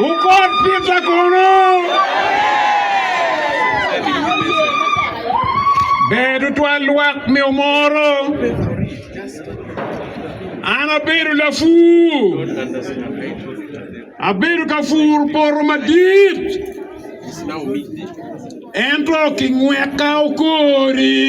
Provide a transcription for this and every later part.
Wukot pitta kono. Ber tutwal lwak me omoro. An abedo lapur. Abedo ka pur poto madit. Ento kingweka okori.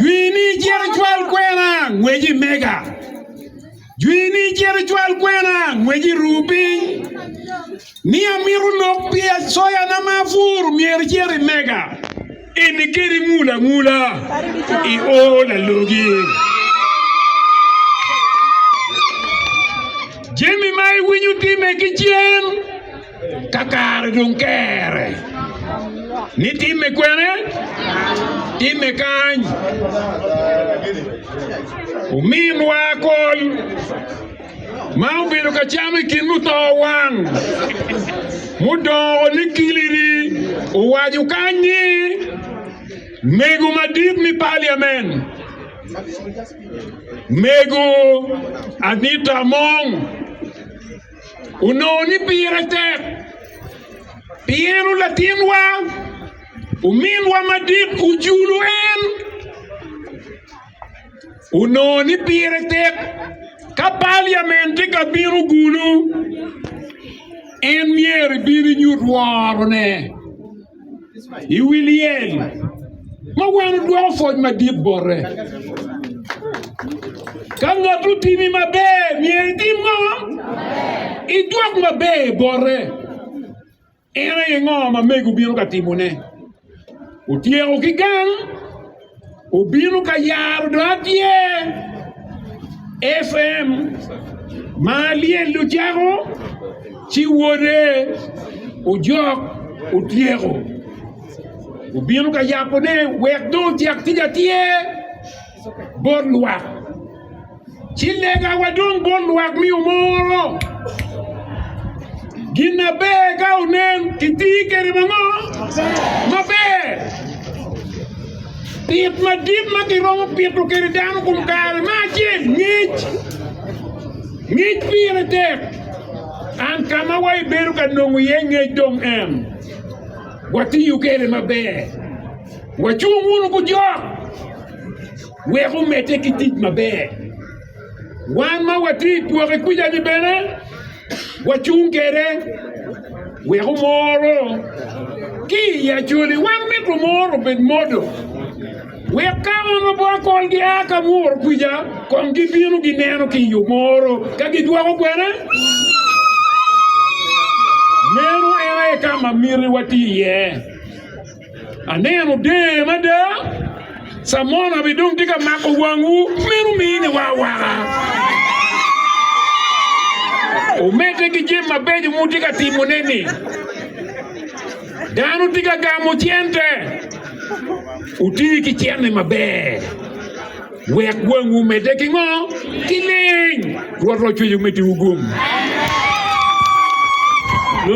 Jwini cito icwal kwena ngwec i mega. Jwini cito icwal kwena ngwec i ruu piny. Ni amito lok pi acoyana ma apuro myero icit i mega. Eni keni ngul angula i o lalogi. Jami ma iwinyo time ki cen. Ka kare dong kere ni timme kwene? Timme kany. Ominwa kol ma obedo ka cam i kin muto wang mudongo ni kiliri owaco kany ni mego madit me Parliament, Mego Anita Among, onongo ni pire tek pi en latinwa ominwa madit ojulu en onongo ni pire tek ka paliamen tye ka bino gulu en myero ebin enyut worone. i wi lyel ma wano dwoko pwoc madit bote. Ka ngat otimi maber, myero itim ngo? Idwok maber bote. En aye ngo ma mego bino ka timone? Otyeko ki gang? Obino ka yaro dong atye FM ma lyel ocako ci wode ojok otyeko. Obino ka yabone wek dong ocak tic atyer bot lwak. ci lega wa dong bot lwak mi omoro. Gin na ber ka onen, itii kede mango? Maber. Pit madit ma kiromo pito kede dano kum kare ma acel ngec. Ngec pire tek. An ka ma wa ibedo ka nongo iye ngec dong en. Watiyo kede maber. Wacung wunu ku jok. wek omedde ki tic maber. Wan ma watye i pwoke kwija-ni bene wacung kwede wek omoro. Ki i Acoli, wan mito moro obed modo, wek ka ono bor kol gia ka muro kwija, kong gibino gineno ki i omoro ka gidwoko kwene. Meno en aye ka ma miti wati iye. Aneno der mada. Samona bene dong tye ka mako wangwu, meno mine wa awaka. Omedde ki jami mabeco mutye ka timone-ni. Dano tye ka gamo cente. Wuti ki cente maber. Wek wangwu omedde ki ngo? Ki leng. Rwot ocweco metiwu gum.